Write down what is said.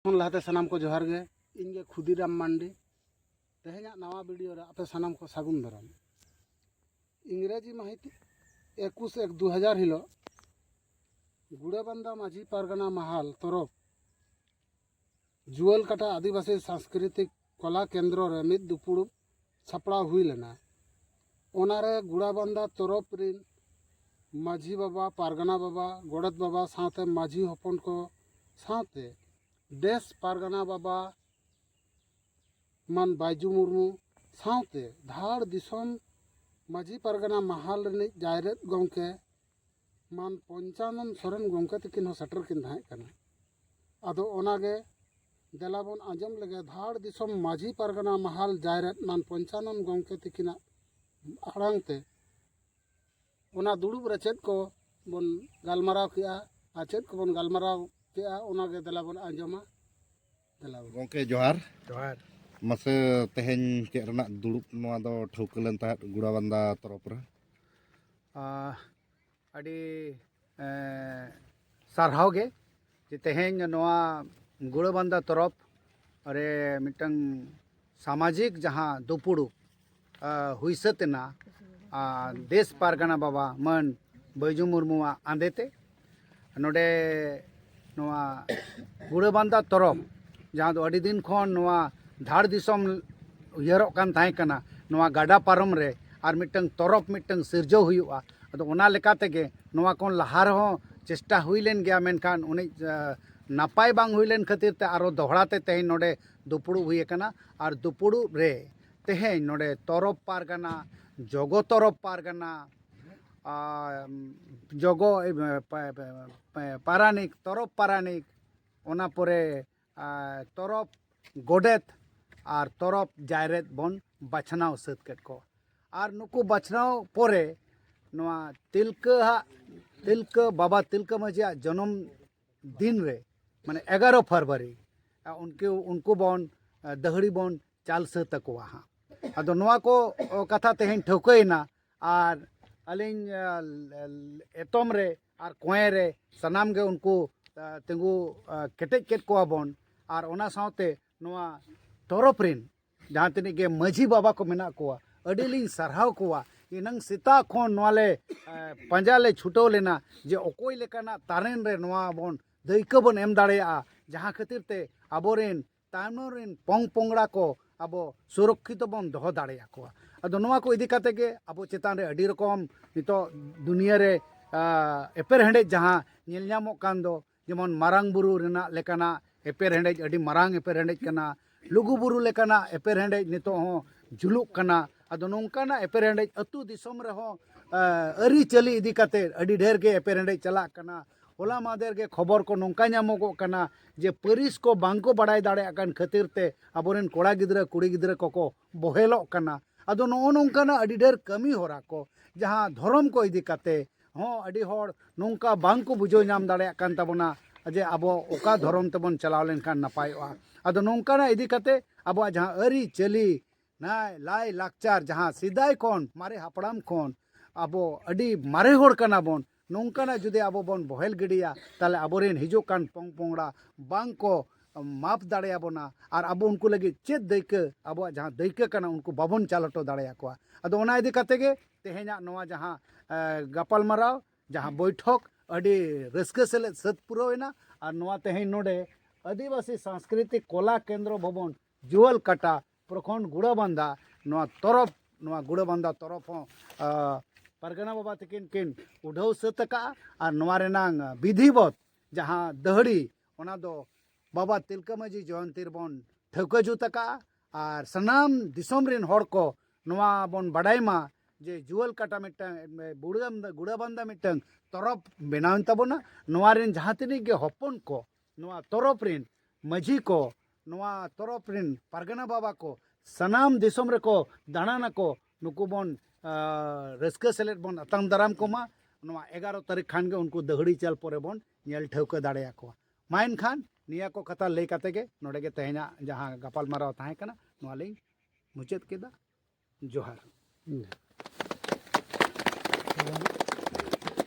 ᱠᱷᱚᱱ ᱞᱟᱦᱟᱛᱮ ᱥᱟᱱᱟᱢ ᱠᱚ ᱡᱚᱦᱟᱨ ᱜᱮ ᱤᱧ ᱜᱮ ᱠᱷᱩᱫᱤᱨᱟᱢ ᱢᱟᱱᱰᱤ ᱛᱮᱦᱮᱧᱟᱜ ᱱᱟᱣᱟ ᱵᱷᱤᱰᱤᱭᱳ ᱨᱮ ᱟᱯᱮ ᱥᱟᱱᱟᱢ ᱠᱚ ᱥᱟᱹᱜᱩᱱ ᱫᱟᱨᱟᱢ ᱤᱝᱨᱮᱡᱤ ᱢᱟᱹᱦᱤᱛ ᱮᱠᱩᱥ ᱮᱠ ᱫᱩ ᱦᱟᱡᱟᱨ ᱦᱤᱞᱳᱜ ᱜᱩᱲᱟᱹᱵᱟᱱᱫᱟ ᱢᱟᱹᱡᱷᱤ ᱯᱟᱨᱜᱟᱱᱟ ᱢᱟᱦᱟᱞ ᱛᱚᱨᱚᱯ ᱡᱩᱣᱟᱹᱞ ᱠᱟᱴᱟ ᱟᱹᱫᱤᱵᱟᱹᱥᱤ ᱥᱟᱝᱥᱠᱨᱤᱛᱤᱠ ᱠᱚᱞᱟ ᱠᱮᱱᱫᱨᱚ ᱨᱮ ᱢᱤᱫ ᱫᱩᱯᱩᱲᱩᱵ ᱥᱟᱯᱲᱟᱣ ᱦᱩᱭ ᱞᱮᱱᱟ ᱚᱱᱟᱨᱮ ᱜᱩᱲᱟᱵᱟᱱᱫᱟ ᱛᱚᱨᱚᱯ ᱨᱤᱱ ᱢᱟᱹᱡᱷᱤ ᱵᱟᱵᱟ ᱯᱟᱨᱜᱟᱱᱟ ᱵᱟᱵᱟ ᱜᱚᱰᱮᱛ ᱵᱟᱵᱟ ᱥᱟᱶᱛᱮ ᱢᱟᱹᱡᱷᱤ ᱦᱚᱯᱚᱱ ᱠᱚ ᱥᱟᱶᱛᱮ ᱫᱮᱥ ᱯᱟᱨᱜᱟᱱᱟ ᱵᱟᱵᱟ ᱢᱟᱱ ᱵᱟᱭᱡᱩ ᱢᱩᱨᱢᱩ ᱥᱟᱶᱛᱮ ᱫᱷᱟᱲ ᱫᱤᱥᱚᱢ ᱢᱟᱹᱡᱷᱤ ᱯᱟᱨᱜᱟᱱᱟ ᱢᱟᱦᱟᱞ ᱨᱤᱱᱤᱡ ᱡᱟᱭᱨᱮᱛ ᱜᱚᱢᱠᱮ ᱢᱟᱱ ᱯᱚᱧᱪᱟᱱᱚᱱ ᱥᱚᱨᱮᱱ ᱜᱚᱢᱠᱮ ᱛᱟᱹᱠᱤᱱ ᱦᱚᱸ ᱥᱮᱴᱮᱨ ᱠᱤᱱ ᱛᱟᱦᱮᱸ ᱠᱟᱱᱟ ᱟᱫᱚ ᱚᱱᱟᱜᱮ ᱫᱮᱞᱟ ᱵᱚᱱ ᱟᱸᱡᱚᱢ ᱞᱮᱜᱮ ᱫᱷᱟᱲ ᱫᱤᱥᱚᱢ ᱢᱟᱹᱡᱷᱤ ᱯᱟᱨᱜᱟᱱᱟ ᱢᱟᱦᱟᱞ ᱡᱟᱭᱨᱮᱫ ᱢᱟᱱ ᱯᱚᱧᱪᱟᱱᱚᱱ ᱜᱚᱢᱠᱮ ᱛᱟᱹᱠᱤᱱᱟᱜ ᱟᱲᱟᱝ ᱛᱮ ᱚᱱᱟ ᱫᱩᱲᱩᱵ ᱨᱮ ᱪᱮᱫ ᱠᱚ ᱵᱚᱱ ᱜᱟᱞᱢᱟᱨᱟᱣ ᱠᱮᱜᱼᱟ ᱟᱨ ᱪᱮᱫ ᱠᱚᱵᱚᱱ ᱜᱟᱞᱢᱟᱨᱟᱣ ᱠᱮᱜᱼᱟ ᱚᱱᱟᱜᱮ ᱫᱮᱞᱟ ᱵᱚᱱ ᱟᱸᱡᱚᱢᱟ ᱜᱚᱢᱠᱮ ᱡᱚᱦᱟᱨ ᱡᱚᱦᱟᱨ ᱢᱟᱥᱮ ᱛᱮᱦᱮᱧ ᱪᱮᱫ ᱨᱮᱱᱟᱜ ᱫᱩᱲᱩᱵ ᱱᱚᱣᱟ ᱫᱚ ᱴᱷᱟᱹᱣᱠᱟᱹ ᱞᱮᱱ ᱛᱟᱦᱮᱸᱫ ᱜᱩᱲᱟᱵᱟᱱᱫᱟ ᱛᱚᱨᱚᱯ ᱨᱮ ᱟᱹᱰᱤ ᱥᱟᱨᱦᱟᱣ ᱜᱮ ᱡᱮ ᱛᱮᱦᱮᱧ ᱱᱚᱣᱟ ᱜᱩᱲᱟᱵᱟᱱᱫᱟ ᱛᱚᱨᱚᱯ ᱨᱮ ᱢᱤᱫᱴᱟᱝ ᱥᱟᱢᱟᱡᱤᱠ ᱡᱟᱦᱟᱸ ᱫᱩᱯᱩᱲᱩᱵ ᱦᱩᱭ ᱥᱟᱹᱛ ᱮᱱᱟ ᱫᱮᱥ ᱯᱟᱨᱜᱟᱱᱟ ᱵᱟᱵᱟ ᱢᱟᱹᱱ ᱵᱟᱹᱭᱡᱩ ᱢᱩᱨᱢᱩᱣᱟᱜ ᱟᱸᱫᱮ ᱛᱮ ᱱᱚᱰᱮ ᱱᱚᱣᱟ ᱜᱩᱲᱟᱹᱵᱟᱱᱫᱟ ᱛᱚᱨᱚᱯ ᱡᱟᱦᱟᱸ ᱫᱚ ᱟᱹᱰᱤ ᱫᱤᱱ ᱠᱷᱚᱱ ᱱᱚᱣᱟ ᱫᱷᱟᱲ ᱫᱤᱥᱚᱢ ᱩᱭᱦᱟᱹᱨᱚᱜ ᱠᱟᱱ ᱛᱟᱦᱮᱸ ᱠᱟᱱᱟ ᱱᱚᱣᱟ ᱜᱟᱰᱟ ᱯᱟᱨᱚᱢ ᱨᱮ ᱟᱨ ᱢᱤᱫᱴᱟᱝ ᱛᱚᱨᱚᱯ ᱢᱤᱫᱴᱟᱝ ᱥᱤᱨᱡᱟᱹᱣ ᱦᱩᱭᱩᱜᱼᱟ ᱟᱫᱚ ᱚᱱᱟ ᱞᱮᱠᱟ ᱛᱮᱜᱮ ᱱᱚᱣᱟ ᱠᱷᱚᱱ ᱞᱟᱦᱟ ᱨᱮᱦᱚᱸ ᱪᱮᱥᱴᱟ ᱦᱩᱭ ᱞᱮᱱ ᱜᱮᱭᱟ ᱢᱮᱱᱠᱷᱟᱱ ᱩᱱᱤ ᱱᱟᱯᱟᱭ ᱵᱟᱝ ᱦᱩᱭ ᱞᱮᱱ ᱠᱷᱟᱹᱛᱤᱨ ᱛᱮ ᱟᱨᱚ ᱫᱚᱦᱲᱟ ᱛᱮ ᱛᱮᱦᱮᱧ ᱱᱚᱰᱮ ᱫᱩᱯᱩᱲᱩᱵ ᱦᱩᱭ ᱟᱠᱟᱱᱟ ᱟᱨ ᱫᱩᱯᱩᱲᱩᱵ ᱨᱮ ᱛᱮᱦᱮᱧ ᱱᱚᱰᱮ ᱛᱚᱨᱚᱵ ᱯᱟᱨᱜᱟᱱᱟ ᱡᱚᱜᱚ ᱛᱚᱨᱚᱵ ᱯᱟᱨᱜᱟᱱᱟ ᱟᱨ ᱡᱚᱜᱚ ᱯᱟᱨᱟᱱᱤᱠ ᱛᱚᱨᱚᱵ ᱯᱟᱨᱟᱱᱤᱠ ᱚᱱᱟ ᱯᱚᱨᱮ ᱛᱚᱨᱚᱵ ᱜᱚᱰᱮᱛ ᱟᱨ ᱛᱚᱨᱚᱵ ᱡᱟᱭᱨᱮᱛ ᱵᱚᱱ ᱵᱟᱪᱷᱱᱟᱣ ᱥᱟᱹᱛ ᱠᱮᱫ ᱠᱚᱣᱟ ᱟᱨ ᱱᱩᱠᱩ ᱵᱟᱪᱷᱱᱟᱣ ᱯᱚᱨᱮ ᱱᱚᱣᱟ ᱛᱤᱞᱠᱟᱹ ᱦᱟᱜ ᱛᱤᱞᱠᱟᱹ ᱵᱟᱵᱟ ᱛᱤᱞᱠᱟᱹ ᱢᱟᱹᱡᱷᱤᱭᱟᱜ ᱡᱚᱱᱚᱢ ᱫᱤᱱ ᱨᱮ ᱢᱟᱱᱮ ᱮᱜᱟᱨᱚ ᱯᱷᱮᱵᱽᱨᱩᱣᱟᱨᱤ ᱩᱱᱠᱩ ᱩᱱᱠᱩ ᱵᱚᱱ ᱫᱟᱹᱦᱲᱤ ᱵᱚᱱ ᱪᱟᱞ ᱥᱟᱹᱛ ᱟᱠᱚᱣᱟ ᱦᱟᱸᱜ ᱟᱫᱚ ᱱᱚᱣᱟ ᱠᱚ ᱠᱟᱛᱷᱟ ᱛᱮᱦᱮᱧ ᱴᱷᱟᱹᱣᱠᱟᱹᱭᱮᱱᱟ ᱟᱨ ᱟᱹᱞᱤᱧ ᱮᱛᱚᱢ ᱨᱮ ᱟᱨ ᱠᱚᱸᱭᱮ ᱨᱮ ᱥᱟᱱᱟᱢ ᱜᱮ ᱩᱱᱠᱩ ᱛᱤᱸᱜᱩ ᱠᱮᱴᱮᱡ ᱠᱮᱫ ᱠᱚᱣᱟ ᱵᱚᱱ ᱟᱨ ᱚᱱᱟ ᱥᱟᱶᱛᱮ ᱱᱚᱣᱟ ᱛᱚᱨᱚᱯ ᱨᱮᱱ ᱡᱟᱦᱟᱸ ᱛᱤᱱᱟᱹᱜ ᱜᱮ ᱢᱟᱹᱡᱷᱤ ᱵᱟᱵᱟ ᱠᱚ ᱢᱮᱱᱟᱜ ᱠᱚᱣᱟ ᱟᱹᱰᱤ ᱞᱤᱧ ᱥᱟᱨᱦᱟᱣ ᱠᱚᱣᱟ ᱮᱱᱟᱝ ᱥᱮᱛᱟᱜ ᱠᱷᱚᱱ ᱱᱚᱣᱟ ᱞᱮ ᱯᱟᱸᱡᱟ ᱞᱮ ᱪᱷᱩᱴᱟᱹᱣ ᱞᱮᱱᱟ ᱡᱮ ᱚᱠᱚᱭ ᱞᱮᱠᱟᱱᱟᱜ ᱛᱟᱨᱮᱱ ᱨᱮ ᱱᱚᱣᱟ ᱵᱚᱱ ᱫᱟᱹᱭᱠᱟᱹ ᱵᱚᱱ ᱮᱢ ᱫᱟᱲᱮᱭᱟᱜᱼᱟ ᱡᱟᱦᱟᱸ ᱠᱷᱟᱹᱛᱤᱨ ᱛᱮ ᱟᱵᱚᱨᱮᱱ ᱛᱟᱭᱱᱚᱢ ᱨᱮᱱ ᱯᱚᱝ ᱯᱚᱝᱲᱟ ᱠᱚ ᱟᱵᱚ ᱥᱩᱨᱚᱠᱠᱷᱤᱛᱚ ᱵᱚᱱ ᱫᱚᱦᱚ ᱫᱟᱲᱮᱭᱟ ᱠᱚᱣᱟ ᱟᱫᱚ ᱱᱚᱣᱟ ᱠᱚ ᱤᱫᱤ ᱠᱟᱛᱮ ᱜᱮ ᱟᱵᱚ ᱪᱮᱛᱟᱱ ᱨᱮ ᱟᱹᱰᱤ ᱨᱚᱠᱚᱢ ᱱᱤᱛᱚᱜ ᱫᱩᱱᱤᱭᱟᱹ ᱨᱮ ᱮᱯᱮᱨᱦᱮᱸᱰᱮᱡ ᱡᱟᱦᱟᱸ ᱧᱮᱞ ᱧᱟᱢᱚᱜ ᱠᱟᱱ ᱫᱚ ᱡᱮᱢᱚᱱ ᱢᱟᱨᱟᱝ ᱵᱩᱨᱩ ᱨᱮᱱᱟᱜ ᱞᱮᱠᱟᱱᱟᱜ ᱮᱯᱮᱨ ᱦᱮᱰᱮᱡ ᱟᱹᱰᱤ ᱢᱟᱨᱟᱝ ᱮᱯᱮᱨ ᱦᱮᱰᱮᱡ ᱠᱟᱱᱟ ᱞᱩᱜᱩ ᱵᱩᱨᱩ ᱞᱮᱠᱟᱱᱟᱜ ᱮᱯᱮᱨ ᱦᱮᱰᱮᱡ ᱱᱤᱛᱚᱜ ᱦᱚᱸ ᱡᱩᱞᱩᱜ ᱠᱟᱱᱟ ᱟᱫᱚ ᱱᱚᱝᱠᱟᱱᱟᱜ ᱮᱯᱮᱨ ᱦᱮᱰᱮᱡ ᱟᱛᱳ ᱫᱤᱥᱚᱢ ᱨᱮᱦᱚᱸ ᱟᱹᱨᱤᱪᱟᱹᱞᱤ ᱤᱫᱤ ᱠᱟᱛᱮ ᱟᱹᱰᱤ ᱰᱷᱮᱨ ᱜᱮ ᱮᱯᱮᱨ ᱦᱮᱰᱮᱡ ᱪᱟᱞᱟᱜ ᱠᱟᱱᱟ ᱦᱚᱞᱟ ᱢᱟᱫᱷᱮᱨ ᱜᱮ ᱠᱷᱚᱵᱚᱨ ᱠᱚ ᱱᱚᱝᱠᱟ ᱧᱟᱢᱚᱜᱚᱜ ᱠᱟᱱᱟ ᱡᱮ ᱯᱟᱹᱨᱤᱥ ᱠᱚ ᱵᱟᱝ ᱠᱚ ᱵᱟᱲᱟᱭ ᱫᱟᱲᱮᱭᱟᱜ ᱠᱟᱱ ᱠᱷᱟᱹᱛᱤᱨ ᱛᱮ ᱟᱵᱚᱨᱮᱱ ᱠᱚᱲᱟ ᱜᱤᱫᱽᱨᱟᱹ ᱠᱩᱲᱤ ᱜᱤᱫᱽᱨᱟᱹ ᱠᱚᱠᱚ ᱵᱚᱦᱮᱞᱚᱜ ᱠᱟᱱᱟ ᱟᱫᱚ ᱱᱚᱜᱼᱚ ᱱᱚᱝᱠᱟᱱᱟᱜ ᱟᱹᱰᱤ ᱰᱷᱮᱨ ᱠᱟᱹᱢᱤ ᱦᱚᱨᱟ ᱠᱚ ᱡᱟᱦᱟᱸ ᱫᱷᱚᱨᱚᱢ ᱠᱚ ᱤᱫᱤ ᱠᱟᱛᱮᱫ ᱦᱚᱸ ᱟᱹᱰᱤ ᱦᱚᱲ ᱱᱚᱝᱠᱟ ᱵᱟᱝ ᱠᱚ ᱵᱩᱡᱷᱟᱹᱣ ᱧᱟᱢ ᱫᱟᱲᱮᱭᱟᱜ ᱠᱟᱱ ᱛᱟᱵᱚᱱᱟ ᱡᱮ ᱟᱵᱚ ᱚᱠᱟ ᱫᱷᱚᱨᱚᱢ ᱛᱮᱵᱚᱱ ᱪᱟᱞᱟᱣ ᱞᱮᱱᱠᱷᱟᱱ ᱱᱟᱯᱟᱭᱚᱜᱼᱟ ᱟᱫᱚ ᱱᱚᱝᱠᱟᱱᱟᱜ ᱤᱫᱤ ᱠᱟᱛᱮᱫ ᱟᱵᱚᱣᱟᱜ ᱡᱟᱦᱟᱸ ᱟᱹᱨᱤᱪᱟᱹᱞᱤ ᱱᱟᱭ ᱞᱟᱭ ᱞᱟᱠᱪᱟᱨ ᱡᱟᱦᱟᱸ ᱥᱮᱫᱟᱭ ᱠᱷᱚᱱ ᱢᱟᱨᱮ ᱦᱟᱯᱲᱟᱢ ᱠᱷᱚᱱ ᱟᱵᱚ ᱟᱹᱰᱤ ᱢᱟᱨᱮ ᱦᱚᱲ ᱠᱟᱱᱟ ᱵᱚᱱ ᱱᱚᱝᱠᱟᱱᱟᱜ ᱡᱩᱫᱤ ᱟᱵᱚ ᱵᱚᱱ ᱵᱚᱦᱮᱞ ᱜᱤᱰᱤᱭᱟ ᱛᱟᱦᱚᱞᱮ ᱟᱵᱚ ᱨᱮᱱ ᱦᱤᱡᱩᱜ ᱠᱟᱱ ᱯᱚᱝ ᱯᱚᱝᱲᱟ ᱵᱟᱝ ᱠᱚ ᱢᱟᱯ ᱫᱟᱲᱮ ᱟᱵᱚᱱᱟ ᱟᱨ ᱟᱵᱚ ᱩᱱᱠᱩ ᱞᱟᱹᱜᱤᱫ ᱪᱮᱫ ᱫᱟᱹᱭᱠᱟᱹ ᱟᱵᱚᱣᱟᱜ ᱡᱟᱦᱟᱸ ᱫᱟᱹᱭᱠᱟᱹ ᱠᱟᱱᱟ ᱩᱱᱠᱩ ᱵᱟᱵᱚᱱ ᱪᱟᱞ ᱦᱚᱴᱚ ᱫᱟᱲᱮ ᱟᱠᱚᱣᱟ ᱟᱫᱚ ᱚᱱᱟ ᱤᱫᱤ ᱠᱟᱛᱮᱫ ᱜᱮ ᱛᱮᱦᱮᱧᱟᱜ ᱱᱚᱣᱟ ᱡᱟᱦᱟᱸ ᱜᱟᱯᱟᱞ ᱢᱟᱨᱟᱣ ᱡᱟᱦᱟᱸ ᱵᱳᱭᱴᱷᱚᱠ ᱟᱹᱰᱤ ᱨᱟᱹᱥᱠᱟᱹ ᱥᱮᱞᱮᱫ ᱥᱟᱹᱛ ᱯᱩᱨᱟᱹᱣ ᱮᱱᱟ ᱟᱨ ᱱᱚᱣᱟ ᱛᱮᱦᱮᱧ ᱱᱚᱰᱮ ᱟᱹᱫᱤᱵᱟᱹᱥᱤ ᱥᱟᱝᱥᱠᱨᱤᱛᱤᱠ ᱠᱚᱞᱟ ᱠᱮᱱᱫᱨᱚ ᱵᱷᱚᱵᱚᱱ ᱡᱩᱣᱟᱹᱞ ᱠᱟᱴᱟ ᱯᱨᱚᱠᱷᱚᱸᱰ ᱜᱩᱲᱟᱹ ᱵᱟᱱᱫᱟ ᱱᱚᱣᱟ ᱛᱚᱨᱚᱯ ᱱᱚᱣᱟ ᱜᱩᱲᱟᱹ ᱵᱟᱱᱫᱟ ᱛᱚᱨᱚᱯ ᱦᱚᱸ ᱯᱟᱨᱜᱟᱱᱟ ᱵᱟᱵᱟ ᱛᱟᱹᱠᱤᱱ ᱠᱤᱱ ᱩᱰᱷᱟᱹᱣ ᱥᱟᱹᱛ ᱟᱠᱟᱜᱼᱟ ᱟᱨ ᱱᱚᱣᱟ ᱨᱮᱱᱟᱝ ᱵᱤᱫᱷᱤᱵᱚᱛ ᱡᱟᱦᱟᱸ ᱫᱟᱹᱦᱲᱤ ᱚᱱᱟ ᱫᱚ ᱵᱟᱵᱟ ᱛᱤᱞᱠᱟᱹ ᱢᱟᱹᱡᱷᱤ ᱡᱚᱭᱚᱱᱛᱤ ᱨᱮᱵᱚᱱ ᱴᱷᱟᱹᱣᱠᱟᱹ ᱡᱩᱛ ᱟᱠᱟᱜᱼᱟ ᱟᱨ ᱥᱟᱱᱟᱢ ᱫᱤᱥᱚᱢ ᱨᱮᱱ ᱦᱚᱲ ᱠᱚ ᱱᱚᱣᱟ ᱵᱚᱱ ᱵᱟᱰᱟᱭ ᱢᱟ ᱡᱮ ᱡᱩᱣᱟᱹᱞ ᱠᱟᱴᱟ ᱢᱤᱫᱴᱟᱝ ᱵᱩᱲᱟᱹ ᱜᱩᱲᱟᱹ ᱵᱟᱱᱫᱟ ᱢᱤᱫᱴᱟᱝ ᱛᱚᱨᱚᱯ ᱵᱮᱱᱟᱣᱮᱱ ᱛᱟᱵᱚᱱᱟ ᱱᱚᱣᱟ ᱨᱮᱱ ᱡᱟᱦᱟᱸ ᱛᱤᱱᱟᱹᱜ ᱜᱮ ᱦᱚᱯᱚᱱ ᱠᱚ ᱱᱚᱣᱟ ᱛᱚᱨᱚᱯ ᱨᱮᱱ ᱢᱟᱹᱡᱷᱤ ᱠᱚ ᱱᱚᱣᱟ ᱛᱚᱨᱚᱯ ᱨᱮᱱ ᱯᱟᱨᱜᱟᱱᱟ ᱵᱟᱵᱟ ᱠᱚ ᱥᱟᱱᱟᱢ ᱫᱤᱥᱚᱢ ᱨᱮᱠᱚ ᱫᱟᱬᱟᱱᱟᱠᱚ ᱱᱩᱠᱩ ᱵᱚᱱ ᱨᱟᱹᱥᱠᱟᱹ ᱥᱮᱞᱮᱫ ᱵᱚᱱ ᱟᱛᱟᱝ ᱫᱟᱨᱟᱢ ᱠᱚᱢᱟ ᱱᱚᱣᱟ ᱮᱜᱟᱨᱚ ᱛᱟᱹᱨᱤᱠᱷ ᱠᱷᱟᱱ ᱜᱮ ᱩᱱᱠᱩ ᱫᱟᱹᱦᱲᱤ ᱪᱟᱞ ᱯᱚᱨᱮ ᱵᱚᱱ ᱧᱮᱞ ᱴᱷᱟᱹᱣᱠᱟᱹ ᱫᱟᱲᱮᱭᱟᱠᱚᱣᱟ ᱢᱟ ᱮᱱᱠᱷᱟᱱ ᱱᱤᱭᱟᱹ ᱠᱚ ᱠᱟᱛᱷᱟ ᱞᱟᱹᱭ ᱠᱟᱛᱮ ᱜᱮ ᱱᱚᱰᱮ ᱜᱮ ᱛᱮᱦᱮᱧᱟᱜ ᱡᱟᱦᱟᱸ ᱜᱟᱯᱟᱞᱢᱟᱨᱟᱣ ᱛᱟᱦᱮᱸ ᱠᱟᱱᱟ ᱱᱚᱣᱟ ᱞᱤᱧ ᱢᱩᱪᱟᱹᱫ ᱠᱮᱫᱟ ᱡᱚᱦᱟᱨ